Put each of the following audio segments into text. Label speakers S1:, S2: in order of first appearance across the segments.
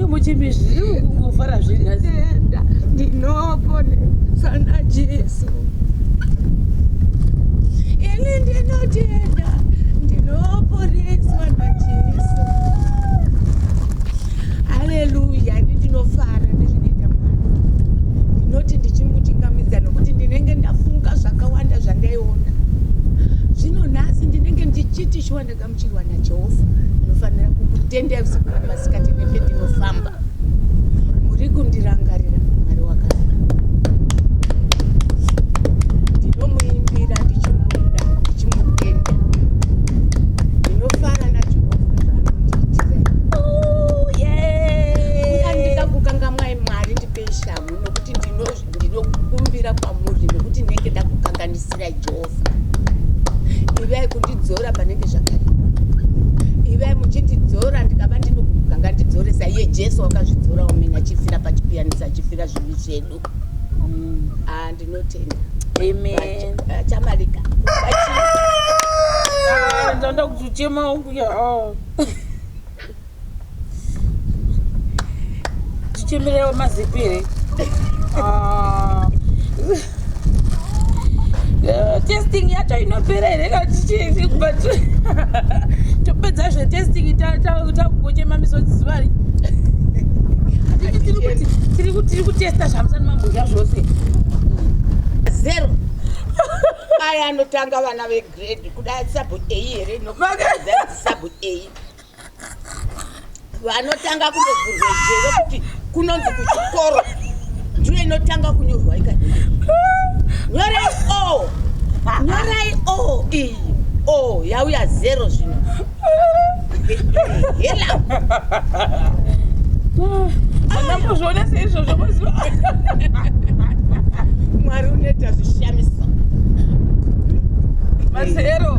S1: muchimbi zviri kungofara zvinatenda ndinoponesa
S2: najesu ini ndinotenda ndinoponeswa najesu haleluya ini ndinofara nezvinoita mwana ndinoti ndichimuchingamidza nokuti ndinenge ndafunga zvakawanda zvandaiona zvino nhasi ndinenge ndichiti shuwa ndakagamuchirwa najehovha ndinofanira kukutendai usiku namasikati nependinofamba muri kundirangarira mwari wakanaka ndinomuimbira ndichimuda ndichimutenda ndinofara najehovha zvaanondiitira andida kukangamwai mwari ndipei shamhu nokuti ndino- ndinokumbira kwamuri nokuti ndinenge ndakukanganisirai jehovha ivai kundidzora panenge zvakare ivai muchindidzora ndikava ndinokubuka ngandidzoresa iye jesu wakazvidzora umene achifira pachipiyanisa achifira zvivi zvedu mm. ah, ndinotenda
S1: chamarika
S2: ah,
S1: ndoda kuchichema unguya oh. tichimirewo mazipiri ah. eh, testing yacho inopera here kana tichii but topedza zve testing takungochema misodzi zuva ri tiri kutesta zvamusani mambodya zvose
S2: zero aya anotanga vana vegrade kuda sabu a here nokuda sabu a vanotanga kundovhurwa jere kuti kunonzi kuchikoro ndiyo inotanga kunyorwa ika nyorai o nyorai o iyi o yauya zero zvino hela
S1: andambozvionesa izvozvo mazuva
S2: mwari unoita zvishamisa
S1: mazero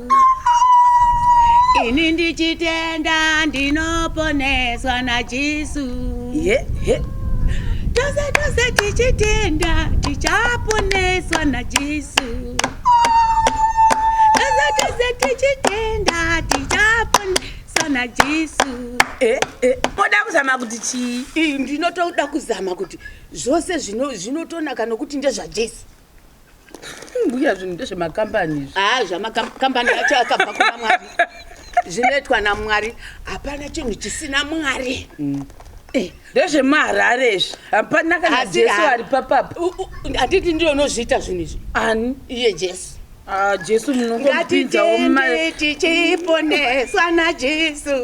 S2: ini ndichitenda ndinoponeswa najesu yeah, yeah. tose tose tichitenda tichaponeswa najesu tose tose tichitenda tichaponeswa najesu eh, eh.
S1: moda kuzama kuti chii ndinotoda kuzama
S2: kuti zvose zvinotonaka nokuti ndezvajesu
S1: mbuya zvinhu ndezvemakambani izvi haa ah, zvamakambani
S2: acho akabva kuna mwari zvinoitwa namwari hapana chinhu chisina mwari mm. eh. ndezvemaharare
S1: izvi hapana kana jesu ari papapa handiti ndiyo
S2: unozviita zvinhu izvi ani iye
S1: jesu
S2: ah, jesu
S1: munongotipinzawo mari
S2: tichiponeswa najesu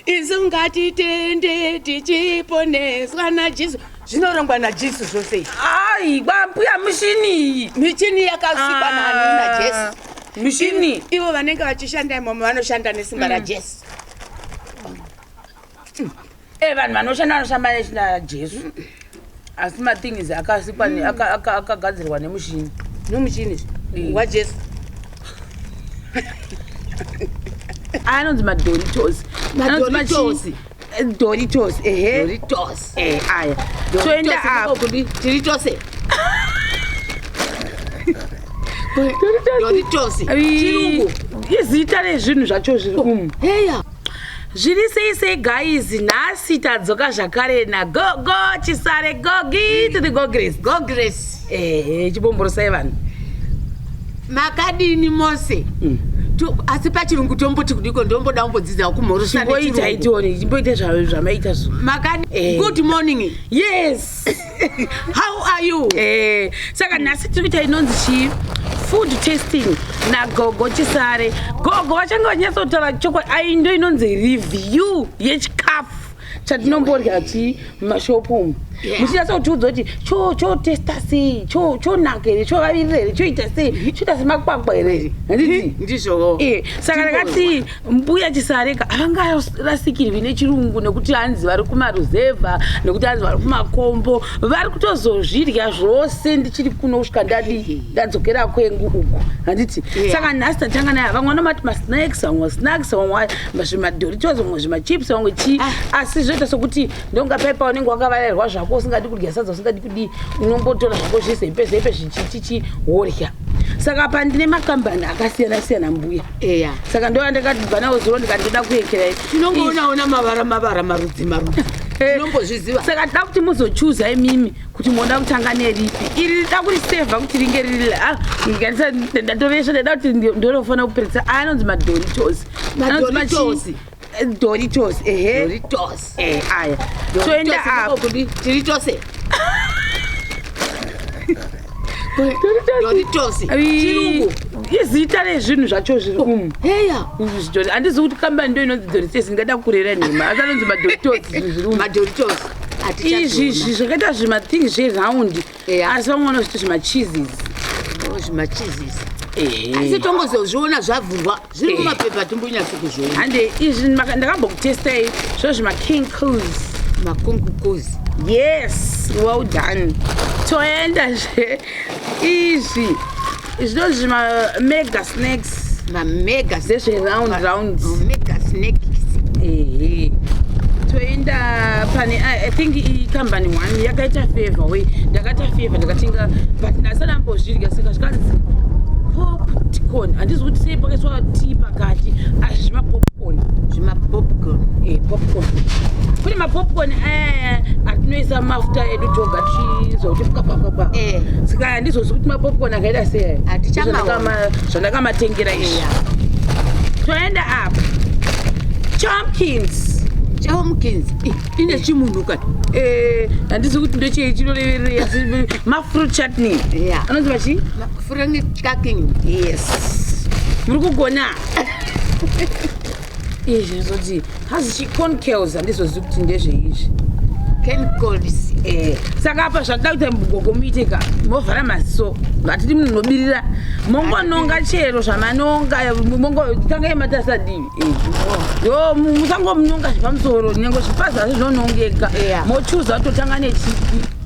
S2: isu ngatitende tichiponeswa najesu zvinorongwa najesu zvose izvi Ai, kwambuya
S1: mushini iyi. michini yakasikwa
S2: Ah. nani najesu Mushini.
S1: ivo vanenge
S2: vachishanda imomo vanoshanda nesimba rajesu
S1: Eh, vanhu vanoshanda vanoshamba nesimba raJesu. asi mathings akasikwa mm. akagadzirwa nemushini nomuchini mm.
S2: wajesu
S1: aya anonzi madoritos anonzi machisi doritos ehe doritos
S2: eh aya
S1: toenda apo kudi tiri
S2: tose doritos chirungu
S1: izita rezvinhu zvacho zviri umu heya
S2: zviri
S1: sei sei guys nhasi tadzoka zvakare nagogo chisare gogi to the gogres gogres ehe chibomborosai vanhu makadini
S2: mose mm. asi pachirungu tomboti kudiko ndomboda kumbodzidzawo kumhorosaaimboita itione imboita
S1: zvamaita zvo makadi eh. good
S2: morning yes
S1: how
S2: are you eh saka nhasi
S1: tiri kuita inonzi chii food testing nagogo chisare gogo vachange vanyatsotaura chokwadi ayi ndo inonzi review yechikafu chatinomborya chii mumashopu umu muchinyatsa kutiudza kuti chotesta sei chonaka here chovavirira here choita sei choita semakwakwa here handiti ndizvoo eh,
S2: saka ndakati
S1: mbuya chisareka havangarasikirwi nechirungu nekuti hanzi vari kumaruzevha nekuti hanzi vari kumakombo vari kutozozvirya zvose ndichiri kuno kusvika ndadii ndadzokera kwengu uku handiti saka nhasi tatanga naye vamwe vanomati masnaks vamwe masnaks vamwe zvimadoritos vamwe zvimachips vamwe chii ah. asi zvoita sokuti ndonga paipa unenge wakavarairwa zvako usingadi kudya sadza usingadi kudii unongotora zvako zvizepe zepe zvichichichi worya saka pandine makambani akasiyana siyana mbuya eya saka ndo yandakabva nawo zuro ndikandoda kuekera tinongoonaona mavara
S2: mavara marudzi marudzi eh. tinombozviziva saka tida kuti
S1: muzochuza imimi kuti moda kutanga neripi iri rida kurisevha kuti ringe riri ah, ndatoresva ndaida kuti ndinofanira kuperetsa anonzi madoritos anonzi machii Doritos, ehe. Doritos.
S2: Eh, aya. Toenda apo. Doritos. Doritos. Chirungu. Izita
S1: rezvinhu zvacho zviri oh, umu. Heya.
S2: Handizi kuti
S1: kambani ndo inonzi Doritos ingada kurera nhema. Asi anonzi maDoritos zviri umu. Madoritose. Izvi zvakaita zvimathing zveround. eya asi vamwe vanozviti zvimacheeses oh, zvimacheeses
S2: asi tongozozviona zvavhurwa zviri eh. mumapepa timbonyatsi kuzviona hande izvi
S1: ndakambokutestai zvo zvimaking cos makong cos
S2: yes
S1: well done toenda zve izvi Izvo zvima mega snacks. Ma mega zvezve
S2: round rounds.
S1: Ma mega
S2: snacks. Ehe. Toenda
S1: pane I think i company one yakaita favor we ndakata favor ndakatenga but ndasana mbozvirya saka zvikanzi popcorn handizi kuti sei pakaiswa tea pakati asi zvima popcorn zvima popcorn eh popcorn kune mapopcorn aya eh, atinoisa mafuta edu toga tichizokuti pkapapapa eh. saka andizozvi kuti mapopcorn akaita sei zvandakamatengera izvi toenda apa chomkins chomkins ine chimunhu ka eh, handizi kuti ndechei chinoreverera mafruit chutney anonzi vachi
S2: yes
S1: muri kugona izvi ndizoti hazi chiconcales handizozivi kuti ndezveizvi chemicals
S2: eh. saka
S1: apa zvakada kuita mugogo muite ka movhara maziso hatidi munhu nobirira mongononga chero zvamanonga mongotangai matasa divi eh. yo musangomunonga zvepamusoro nyengo zvipazi hazvi zvonongeka mochuza totanga nechipi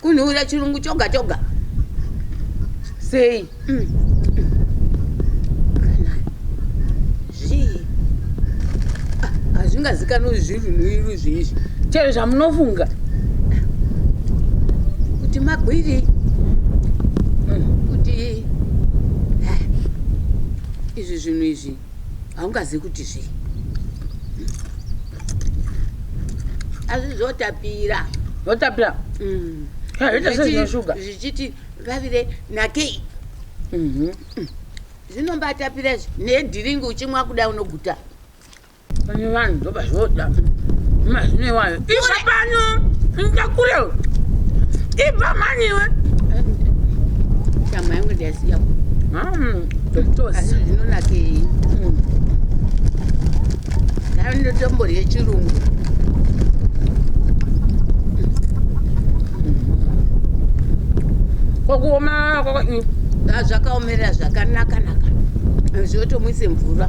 S2: Kunhuwira chirungu choga choga. Sei?
S1: Mm.
S2: hazvingazikanwa kuti zviri runhuwiro zviizvi chero zvamunofunga kuti magwiri izvi zvinhu izvi haungazivi kuti zvii asi zvotapira zvotapira mm. zvoita sezvinoshuga zvichiti vavire nakei mhm. mm. zvinombatapira izvi nedhiringi uchimwa kuda unoguta pane
S1: vanhu zvoba zvoda mazvinoiwayo Ibva
S2: pano ndakure ibva mani iwe nyama yangu ndiyaziya zvinonakei munhu dai ndotomborye chirungu
S1: kwakuoma
S2: zvakaomerera zvakanakanaka zvotomuise mvura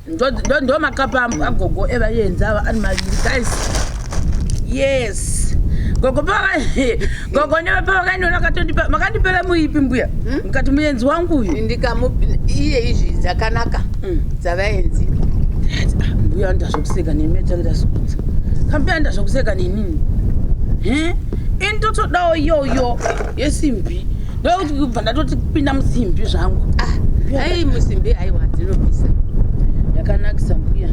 S2: ndo
S1: makapa agogo evayenzi ava ari maviri guys yes gogo gogo nevapavakainonakatondipa makandipera muipi mbuya hmm? mukati muyenzi wangu uyu ndikaiye
S2: izvi dzakanaka hmm. dzavayenzi ah,
S1: mbuya anoita zvokuseka nemi achaita zvokudza kambuya anoita zvokuseka nenini ini totodawo iyoyo yesimbi ndokuti kubva ndatoti kupinda musimbi zvangu ah, ai
S2: musimbi aiwa dzinobvisa yakanakisa
S1: mbuya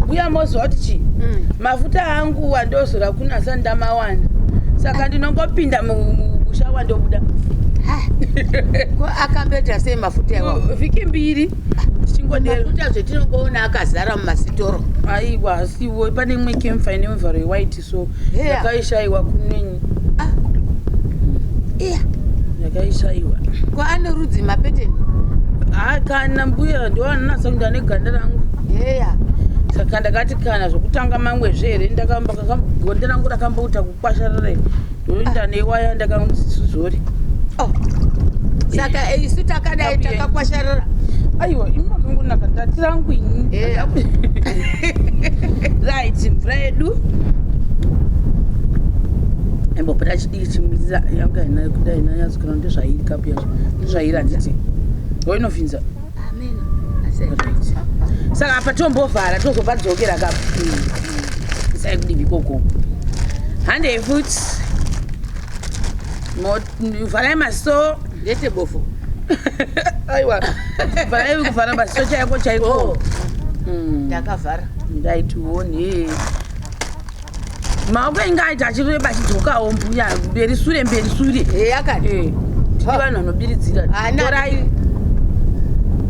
S1: mbuya moziva kuti chii mm. mafuta angu wandozora kunasa ndamawana saka ndinongopinda musha wandobuda
S2: akamboita sei mafuta iwa vhiki mbiri
S1: mafuta
S2: zvetinongoona akazara mumasitoro aiwa asiwo
S1: pane imwe kemfa ine mivharo yewhite so yakaishaiwa kunenyi ah. iya yakaishaiwa ko ane
S2: rudzi mapeteni ha kana
S1: mbuya ndoanonasa kundi ane ganda rangu heya saka ndakati kana zvokutanga mamwe zve here ndakambo ganda rangu rakamboita kukwasharara ndoinda newaya ndakazori oh.
S2: saka eh, isu takadai takakwasharara aiwa imi
S1: makangonaka ndati rangu ini eh. right mvura yedu imbopota chidiki chimuitira yanga inayo kuda inayo yazikana ndezvairi kapu yacho ndezvairi handiti wainofinza saka apa tombovhara tozopadzokera kapa isai kudivi koko handei futi vharai maso ndete bofo aiwa vharai kuvhara maso chaiko chaiko oh. hmm.
S2: ndakavhara ndaitione
S1: maoko ainge aita achireba achidzokawo mbuya mberi sure mberi sure eya kani Eh,
S2: tiri vanhu
S1: vanobiridzira Ana- torai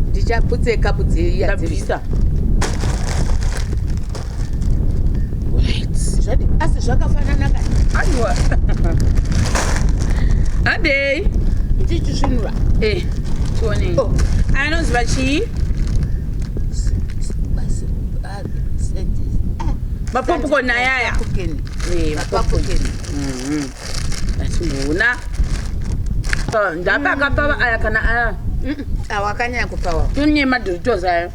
S1: ndichaputse
S2: kapu dzeiya ndabvisa Zvadi- asi zvakafanana kani aiwa
S1: adei ndichisvinura
S2: Eh,
S1: tione Oh. anoziva chii mapopcorn ayaya achiona ndapa akapava aya kana aya awakanyanya
S2: kupava tune madoritos
S1: ayo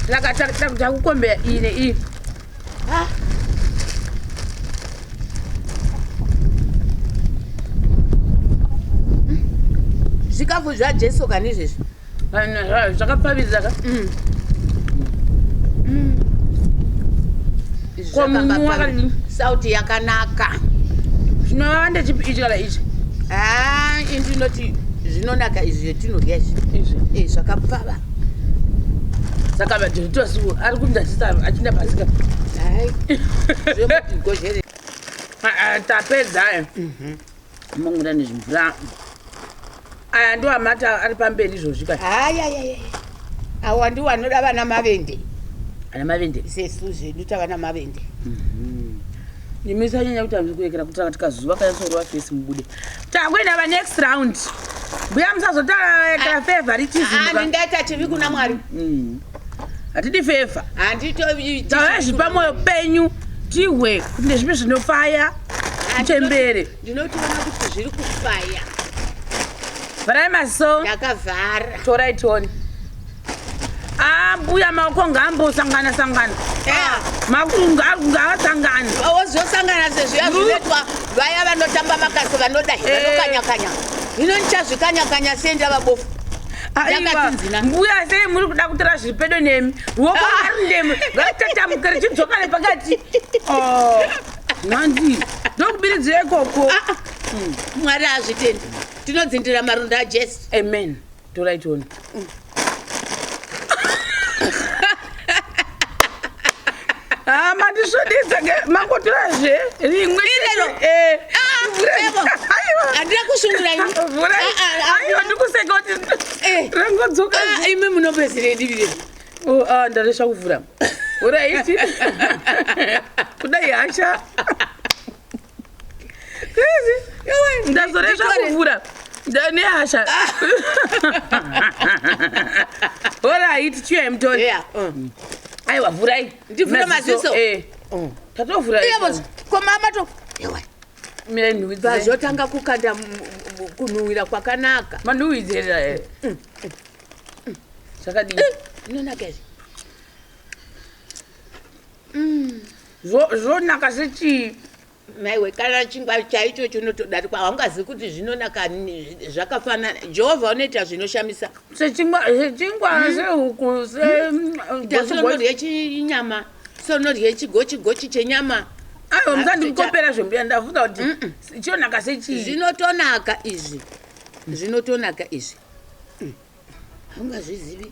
S1: saka takukombeya iyi neiyi
S2: zvikafu zvajesu kani izvezvi zvakapfavisa ka mm. mm. sauti yakanaka zvinova
S1: ndechipiichikala ichi ah, inzi
S2: inoti zvinonaka izvi zvetinodya izvi eh, zvakapfava
S1: saka vadiritosi ari kundazisa achinda pasika tapedza mhm. Mangura nezvimvura aya ndiwo amata ari pamberi izvozvi ka hayayaya
S2: awa ndiwo anoda vana mavende ana mavende
S1: sesu zvedu tava
S2: namavende mhm. nimi
S1: sanyanya kuti anzi kuekera kuti akati kazuva kanyatsorova fesi mubude takuenda va next round mbuya musazotaekera ah, favoritism ah, ndingaita chivi kuna
S2: mwari mm.
S1: hatidi feva tavezvi pamoyo penyu tihwe kuti nezvipi zvinofaya
S2: chembere ndinotiona kuti zviri kufaya
S1: vharai maso ndakavhara torai
S2: tione
S1: ambuya ah, maoko ngaambosangana sangana ah, makungaasangani ozosangana
S2: sezviya zvinoitwa vaya vanotamba makasi vanoda eh. vanokanyakanya hino ndichazvikanyakanya sei ndavabofu mbuya
S1: sei muri kuda kutora zviri pedo nemi ruoko ari ndemi rakatambuka richidzoka nepakati oh, mwanzi ndokubiridzira ikoko ah, ah. Hmm.
S2: mwari azvitendi tinodzindira maronda ajesu amen
S1: toraitoni Ah, mandisvudisa ke makotora zve rimwe Ilero. eh Ah, vhura- evo.
S2: Aiwa. Handina kusungura ini. Vhura. Ah, ah, ah.
S1: Aiwa, ndikuseka kuti Eh. rangodzoka Ah, imi munopedzere
S2: divi rino. Oh, ah, ndaresha
S1: kuvhura vhura iti kudai hasha ndazoresva kuvhura nehasha horaiti chiyai mutoni aiwa vhurai ndivhura maziso
S2: eh. mm. tatovhura
S1: komama
S2: to
S1: vazotanga
S2: kukanda kunhuhwira kwakanaka manhuhwidzeera eh. mm,
S1: mm, zvakadii inonaka izvi zvonaka zvichii maiwe
S2: kana chingwa chaicho chinotodarikwa haungazivi kuti zvinonaka zvakafanana jehovha unoita zvinoshamisa sechingwa
S1: hmm? sehuku seunodya
S2: hmm? chinyama seunodya chigochigochi chenyama aiwa
S1: musandikopera zvembuya ndafunga kuti chinonaka sechii zvinotonaka izvi
S2: zvinotonaka izvi haungazvizivi mm.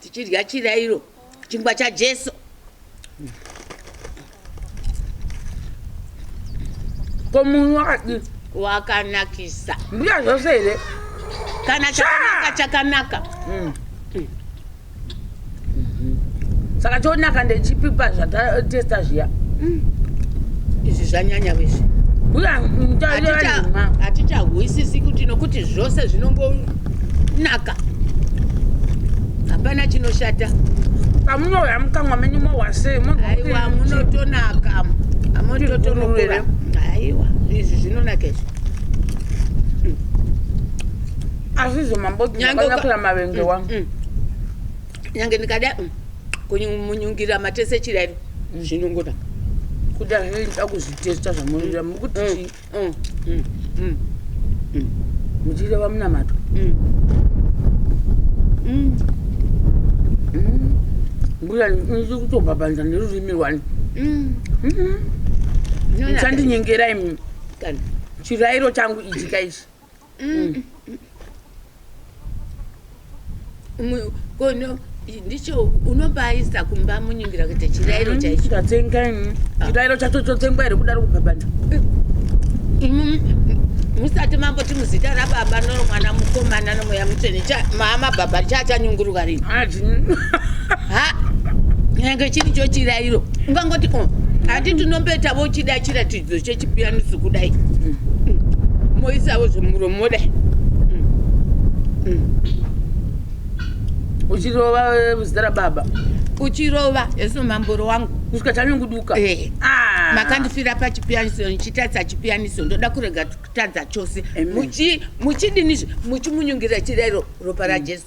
S2: tichidya chirairo chingwa chajesu
S1: ko munhu wakadii wakanakisa
S2: mbuya zvose
S1: here kana
S2: chakanaka chakanaka mm.
S1: saka chonaka ndechipipa zvatatesta zviya mm.
S2: izvi zvanyanya wezvi
S1: hatichahwisisi
S2: kuti nokuti zvose zvinongonaka hapana chinoshata pamunouya
S1: mukamwa menyu mohwasei aiwa
S2: munotonaka amototonokura aiwa izvi zvinonaka izvi
S1: azvizo mamboaakura mavenge wangu mm, mm.
S2: nyange ndikada mm, kumunyungira matese chirairo zvinongonaka kuda
S1: zvaida kuzvitesta zvamunoda mukuti chii mm, mm, mm, mm. muchireva munamato mm. mm. mm. mbuya ndichiri kutobhabhanza nerurimi rwani mm. mm. chandinyengerai chirairo changu ichi kaichi
S2: mm. mm. kono ndicho unobaisa kumba munyingira kuita chirairo mm-hmm. chaicho tatsenga mm.
S1: ah. chirairo chacho chotsengwa here kudaro kubhabhanda
S2: musati mamboti muzita rababa nomwana mukomana nomweya mutsvene mama baba chaachanyunguruka rini nyange chiri chochirairo ungangoti oh, hati tinombetavo chida chiratidzo zvechechipianiso kudai mm. moisawo zvemuromo modai
S1: uchirova zita rababa uchirova
S2: eso mamboro wangu kusvika chanyunguduka
S1: eh. ah. makandifira
S2: pachipianiso ndichitadza chipianiso ndoda kurega kutadza chose muchidinizve muchimunyungira chirairo ropa rajesu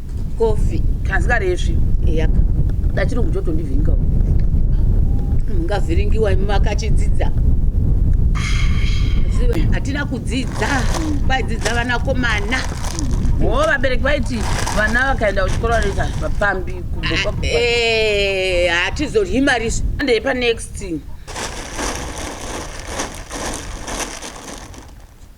S1: Coffee. Kanzikaresvi.
S2: Eyaka.
S1: Dachirungu chotondivhinga.
S2: Mungavhiringiwa imi makachidzidza. Hatina kudzidza. Vaidzidza vanakomana. Oh,
S1: vabereki vaiti vana vakaenda kuchikoro vanoita vapambi kuboka. Eh,
S2: hatizodyi mari. Ndei pa next.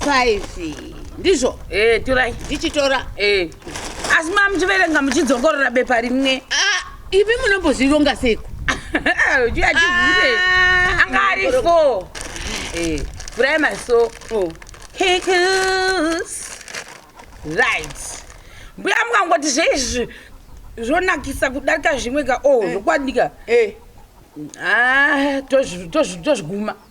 S2: 5 ndizvo eh torai
S1: ndichitora eh asi mamuchiverenga muchidzongorora bepa rimwe ah, ivi
S2: munombozvironga seiko
S1: chiachivhure ah, anga ari fo eh, vhurai maso oh. right mbuya mukangoti zveizvi zvonakisa kudarika zvimwe ka o oh, eh. zvokwadika eh. ah, tozviguma to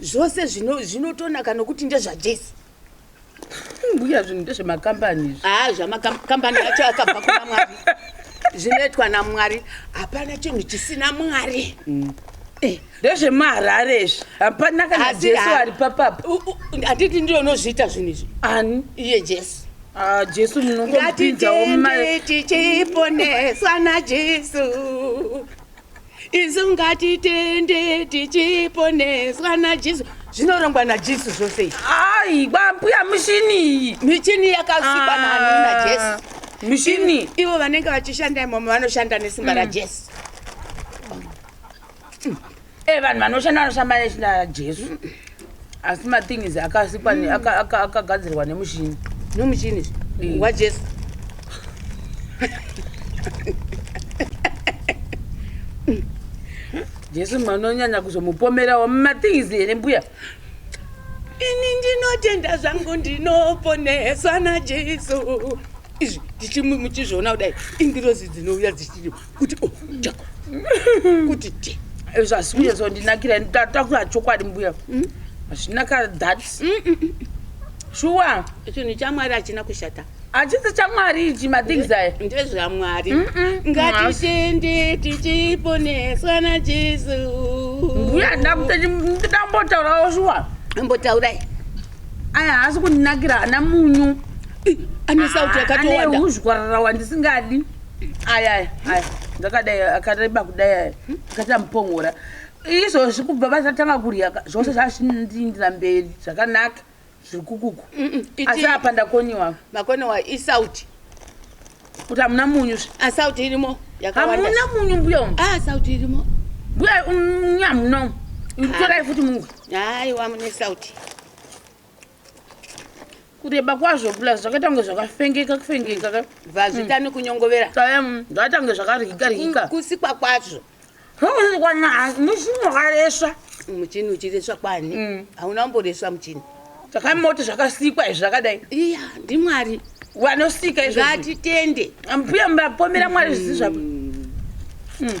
S2: zvose zvino zvinotonaka nokuti ndezvajesu
S1: mbuya zvinhu ndezvemakambani izvi haa zvamakambani
S2: acho akabva kuna mwari zvinoitwa namwari hapana chinhu chisina mwari mm. eh. ndezvemaharare
S1: izvi hapana kana jesu ari papapa handiti ndiyo
S2: unozviita zvinhu izvi ani iye
S1: jesu
S2: ah, jesu
S1: munongotipinzawo mari
S2: tichiponeswa najesu isu ngatitende tichiponeswa najesu zvinorongwa najesu zvose ai kwambuya
S1: mushini iyi michini yakasikwa
S2: nani najesu ah, mushini
S1: ivo vanenge
S2: vachishanda imomo vanoshanda nesimba mm. rajesu
S1: e eh, vanhu vanoshanda vanoshamba nesimba rajesu asi mathings akasikwa ne- aka- aka- akagadzirwa nemushini nomuchini
S2: Mm. wajesu
S1: jesu manonyanya kuzomupomerawo mathings here mbuya
S2: ini ndinotenda zvangu ndinoponeswa najesu izvi ndichimu- muchizviona kudai ingirozi dzinouya dzichiti kuti oh, kuti ti zvasi kuyezondinakira
S1: ndataura chokwadi mbuya mm. hazvina ka that mm, mm, shuwa chinhu
S2: chamwari hachina kushata hachisi chamwari
S1: ichi mathings aya ndezvamwari
S2: ngatitende tichiponeswa najesu
S1: mbuya ndambotaurawo shuwa ambotaurai
S2: aya
S1: haasi kundinakira ana munyu anesauti
S2: ah, yakatowandauzhwararawa
S1: ndisingadi aya aya aya ndakadai akareba kudai aya akati amupongora izvozvi kubva vasatanga kurya ka, zvose zvazvindiindira mberi zvakanaka zviri kukuku iti- asi apa ndakoniwa makone wa isauti kuti hamuna munyu zve. asauti irimo
S2: yakawanda hamuna munyu mbuya umu
S1: ah sauti irimo
S2: mbuya umu,
S1: hamuna umu torai futi mungwe haiwa mune
S2: sauti
S1: kureba kwazvo plus zvakaita kunge zvakafengeka kufengeka ka vazvita mm.
S2: nekunyongovera zvakaita kunge
S1: zvakaryika ryika kusikwa kwazvo
S2: muchini
S1: wakaresva muchini uchiresva
S2: kwani mm. hauna kumboresva muchini zvakamoti
S1: zvakasikwa izvi zvakadai iya ndimwari
S2: vanosika
S1: izvo ngatitende
S2: mbuya mapomera
S1: mwari zvizi zvapo mm.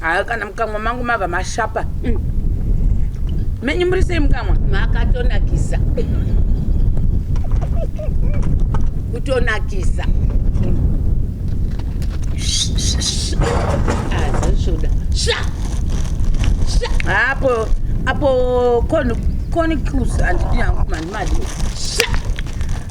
S1: Haa kana mukamwa mangu mava mashapa mm. Menyu muri sei mukamwa? Makatonakisa
S2: Kutonakisa Azashoda ah, Sha! Sha!
S1: Apo, apo koni, koni cruise and dina mkumani mali Sha!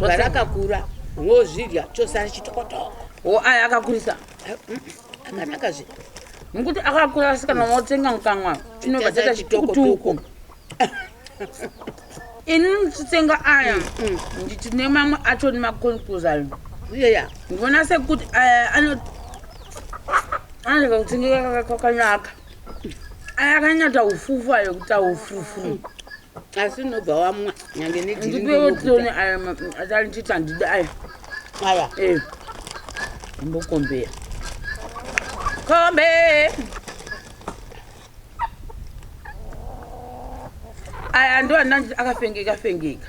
S2: Mwana akakura wozvidya chosara chitokotoko. Wo aya akakurisa.
S1: Eh, mm, mm,
S2: akanaka zve. Ngokuti akakura
S1: asikana wotsenga mukanwa chinobva chaita chitokotoko. Ini ndichitsenga aya mm, nditi nemamwe acho nemakonkuzayo. Iyeya.
S2: Ndivona sekuti
S1: aya eh, ano anoda kutsengeka kwakanaka. Aya akanyata ufufu ayo kuta ufufu. asi
S2: unobva wamwa nyange nediriweotone aya
S1: atanititi andidi aya aya eh. imbokombea kombe aya ndo andanti akafengeka fengeka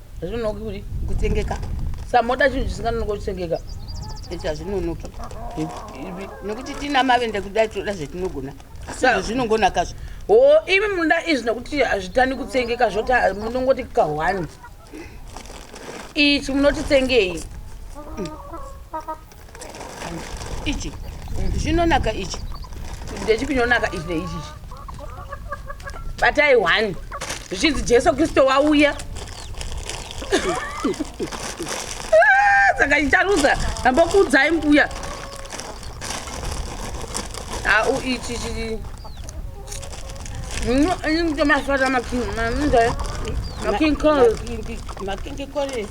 S2: hazvinonoki
S1: kuti kutengeka
S2: samoda chinhu
S1: chisinganonoki kutengeka iti
S2: hazvinonoki nekuti tina mavende kudai tinoda zvetinogona zvinongonakazvo o imi
S1: munoda izvi nekuti hazvitani kutengeka zvoti munongoti kahwani ichi munotitengei
S2: ichi chinonaka ichi ndechipi
S1: chinonaka ichi neichi batai one zvichinzi jesu kristu wauya ah, saka chicharudza ambokuudzai mbuya au ichi chii Não, eu não tenho mais fora da maquinha, não é? Maquinha com... Maquinha com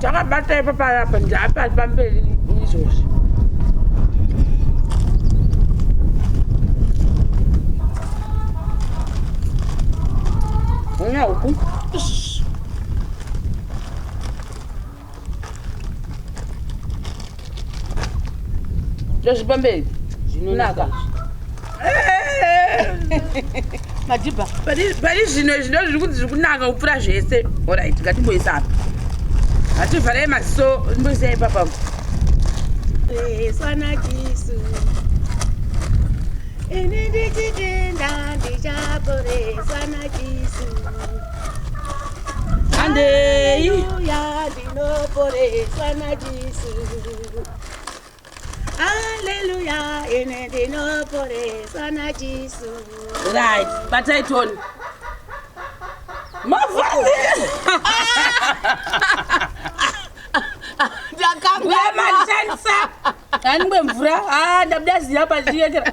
S1: takabata ipa payapa ndapa pamberi izvozvi ndozvipamberi zvinonaka
S2: madhibha pari
S1: zvino izvi ndo zviri kuti zviri kunaka kupfuura zvese orit ngatimboisa apa hativharai maziso mboisa ipapa esanakisu
S2: ini ndichitenda ndichaporesanakisu handei Hallelujah, ine ndinoporeswa naJesu. Right,
S1: batai toni. Mavhazi. Ndakamwa matanisa. Aningwe mvura. Ah, ndabuda ziya pachiyekera.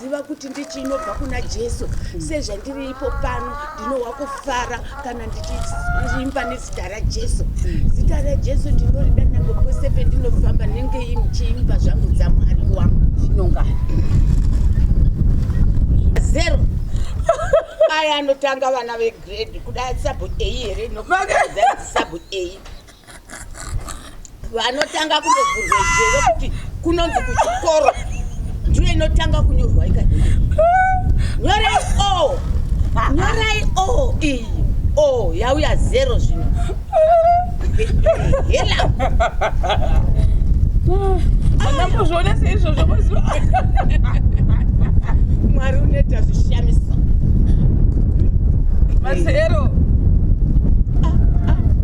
S2: Ziva kuti ndichi inobva kuna Jesu. Sezvandiri ipo pano, ndinohwa kufara kana ndichiimba nezita raJesu. Zita raJesu ndinorida nyangwe kwese pendinofamba ndinenge ndichiimba zvangu dzaMwari wangu.
S1: Zvinongana.
S2: Zero. Aya anotanga vana vegrade kuda sabu A here? Nokuti sabu A. vanotanga kundovhurwa jere kuti kunonzi kuchikoro ndiyo inotanga kunyorwa ika nyorai o nyorai o iyi o yauya zero zvino hela
S1: andambozvionesa izvozvo mazuva
S2: mwari unoita zvishamiso
S1: mazero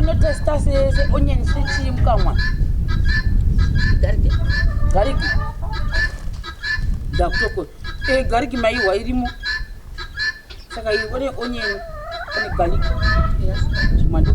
S1: unotesta seonyen sechii mukamwa gariki ndakutoko eh, gariki maihwa irimo saka one onyen one gariki zvimwandii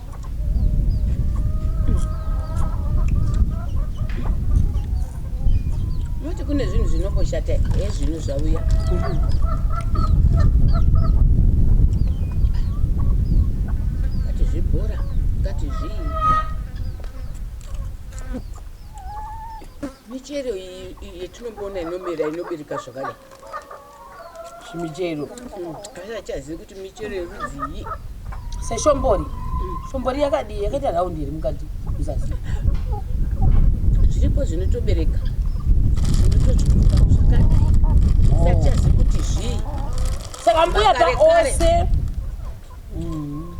S2: Muti kune zvinhu zvinomboshata ezvinhu zvauya. Kati zvibhora, kati zvii. Michero iyi yetinomboona inomera inobereka zvakadai. zvimichero
S1: achazivi kuti
S2: michero yerudzii seshombori
S1: shombori yakadii yakaita raundi here mukati muzasi zviripo
S2: zvinotobereka zvinotochikuka zvakadai sachazivi kuti zvii saka mbuya
S1: paose mm.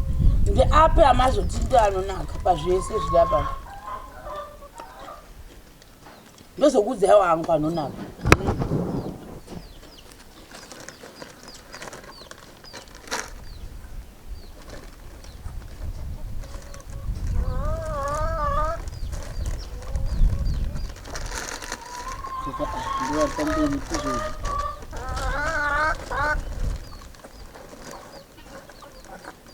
S1: ndeapi amazotinda anonaka pazvese zvirapa ndozokuudzai wangu anonaka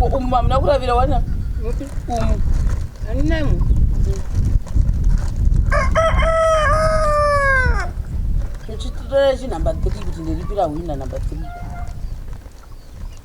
S1: umu mamuna kuravira wana umu
S2: aninamu
S1: chitora chinumber three kuti ndiripira hwina number three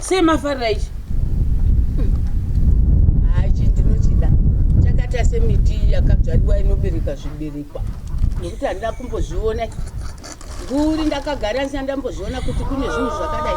S1: sei mafarira ichi
S2: haichi ndinochida chakaita semiti yakabzvariwa inobereka zviberekwa nekuti handida kumbozviona nguri ndakagara ndisina ndambozviona kuti kune zvinhu zvakadai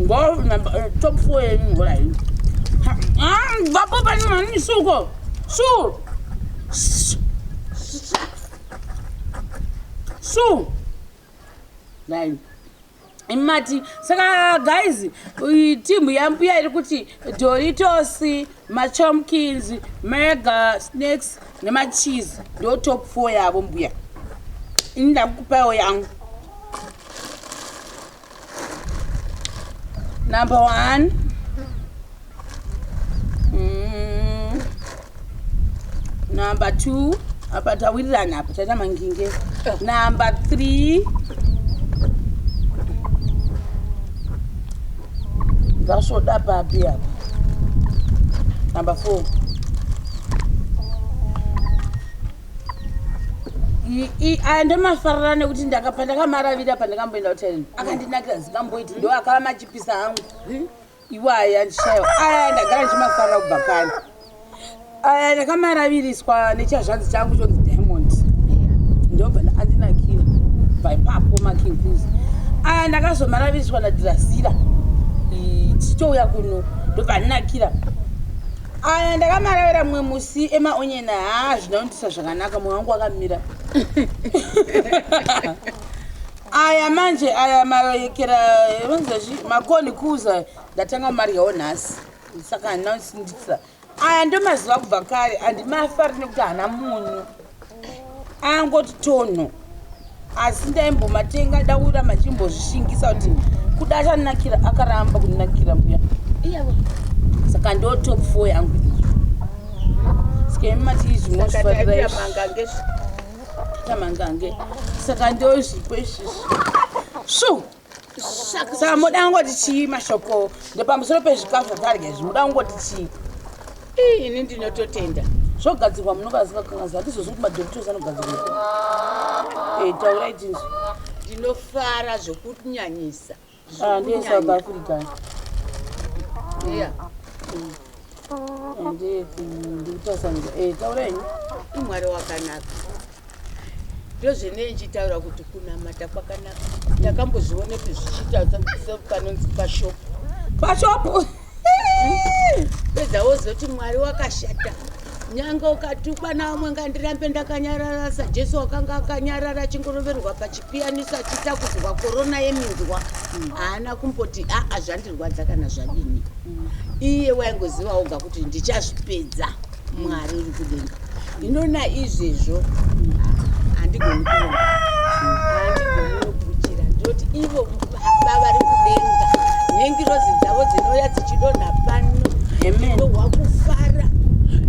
S1: ngo number eh, top 4 yenu ngola hiyo ah baba pani mani suko su su nine imati saka guys timu yambuya iri kuti doritos machomkins mega snakes nemacheese ndo top four yavo mbuya ini ndakukupawo yangu Number one. Mm. Number two. Apa tawirirana apa taita manginge. Number three. Ngasvoda papi apa. Number four. aya ndomafarira nekuti ndakapandakamaravira pandakamboenda kutaini akandinakira zikamboiti ndo akava machipisa angu iwo aya ndishaiwa aya ndagara ndichimafarira kubva kani aya ndakamaraviriswa nechazvanzi changu chonzi diamond ndobva andinakira bvaipapo makinkuzi aya ndakazomaraviriswa nadirasira tichouya kuno ndobva andinakira aya ndakamaravira mumwe musi emaonyena haa zvina kundisa zvakanaka mwe wangu wakamira aya manje aya mayekera vanzazvi makoni kuza ndatanga kumaryawo nhasi saka handina kundisindisa aya ndomaziva kubva kare andimafa ri nekuti hana munyu angoti tonho asi ndaimbomatenga daura machimbozvishingisa kuti kuda achanakira akaramba kunakira mbuya saka ndo top four yangu sikaimachiizvimozvifairamangange saka ndozvipo izvizvi shu saka moda kungoti chii mashoko ndepamusoro pezvikafu zvatarya izvi moda kungoti chii ii ini
S2: ndinototenda zvogadzirwa
S1: munovaziva kangazi handizozi kuti madoktos anogadzirwa eh, taurai tinzwi ndinofara
S2: zvokunyanyisa ah, ndiye
S1: south african yeah. mm.
S2: imwari
S1: wakanaka
S2: ndozvenei ndichitaura kuti kunamata kwakanaka ndakambozvionepi zvichiita sepanonzi pashopu pashopu pedza wozoti mwari wakashata nyange ukatukwa naumwe ngandirambe ndakanyarara sajesu wakanga akanyarara achingoroverwa pachipiyaniso achiita kuzwa korona yeminzwa haana kumboti aa zvandirwadza kana zvadini iye waingoziva oga kuti ndichazvipedza mwari uri kudenga inona izvezvo handigoni kuona handigoni nokuchira ndoti ivo Baba vari kudenga nengirozi dzavo dzinouya dzichidonha pano ndinohwa kufara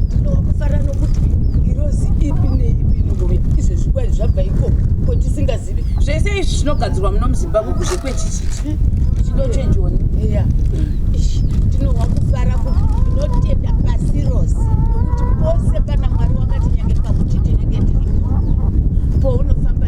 S2: ndinohwa kufara nokuti ngirozi ipi neipi inongouya izvezvi kwai zvabva ikoko kotisingazivi zvese izvi zvinogadzirwa
S1: muno muzimbabwe kuzve kwechichiti chidochenjoni iya
S2: ndinohwa kufara ndinotenda pasi rose nokuti pose pana mwari wakati nyange pakuchiti nenge ndiripo pounofamba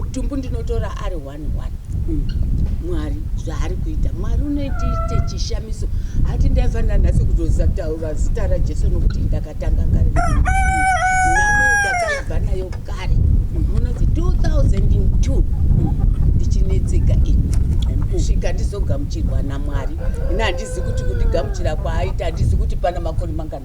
S2: utumbu ndinotora ari one one mm. mwari zvaari kuita mwari unoitiite chishamiso hati ndaifanira nhasi kutotaura zita rajesu nokuti ndakatanga kare nami ndakaibva nayo kare munoti 2002 ndichinetseka ini kusvika ndizogamuchirwa namwari ini handizi kuti kundigamuchira kwaaita handizi kuti pana makoni mangana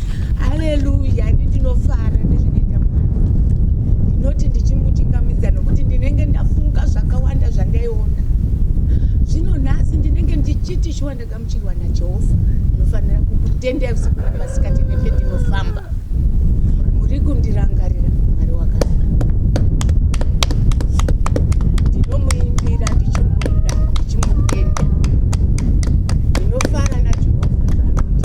S2: haleluya ini ndinofara nezvinoita mwari ndinoti ndichimuchingamidza nokuti ndinenge ndafunga zvakawanda zvandaiona zvino nhasi ndinenge ndichiti shuwa ndagamuchirwa najehovha ndinofanira kukutenda usiku namasikati nependinofamba muri kundirangarira mwari wakanaka ndinomuimbira ndichimuda ndichimutenda ndinofara najehovha zvaanoita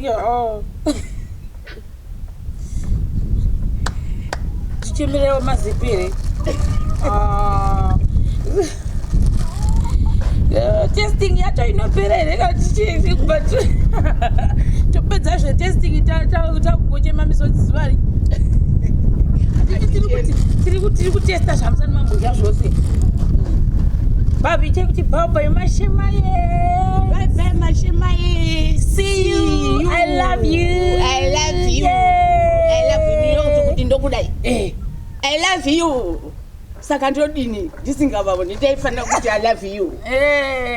S1: Yoo. Tichimirewo mazipi here? Ah. Eh, testing yacho inopera here kana tichii kuba topedza zve testing ta- ta- takungochema misodzi zuva ri Tiri- tiri kuti- tiri kuti- tiri kutesta zvamusana mambodya zvose babi chekuti bhabha yemashema ye Bye bye
S2: mashema ye. ndokudai eh, i love you saka ndodini ndisingavaoni ndaifanira kuti i love you eh.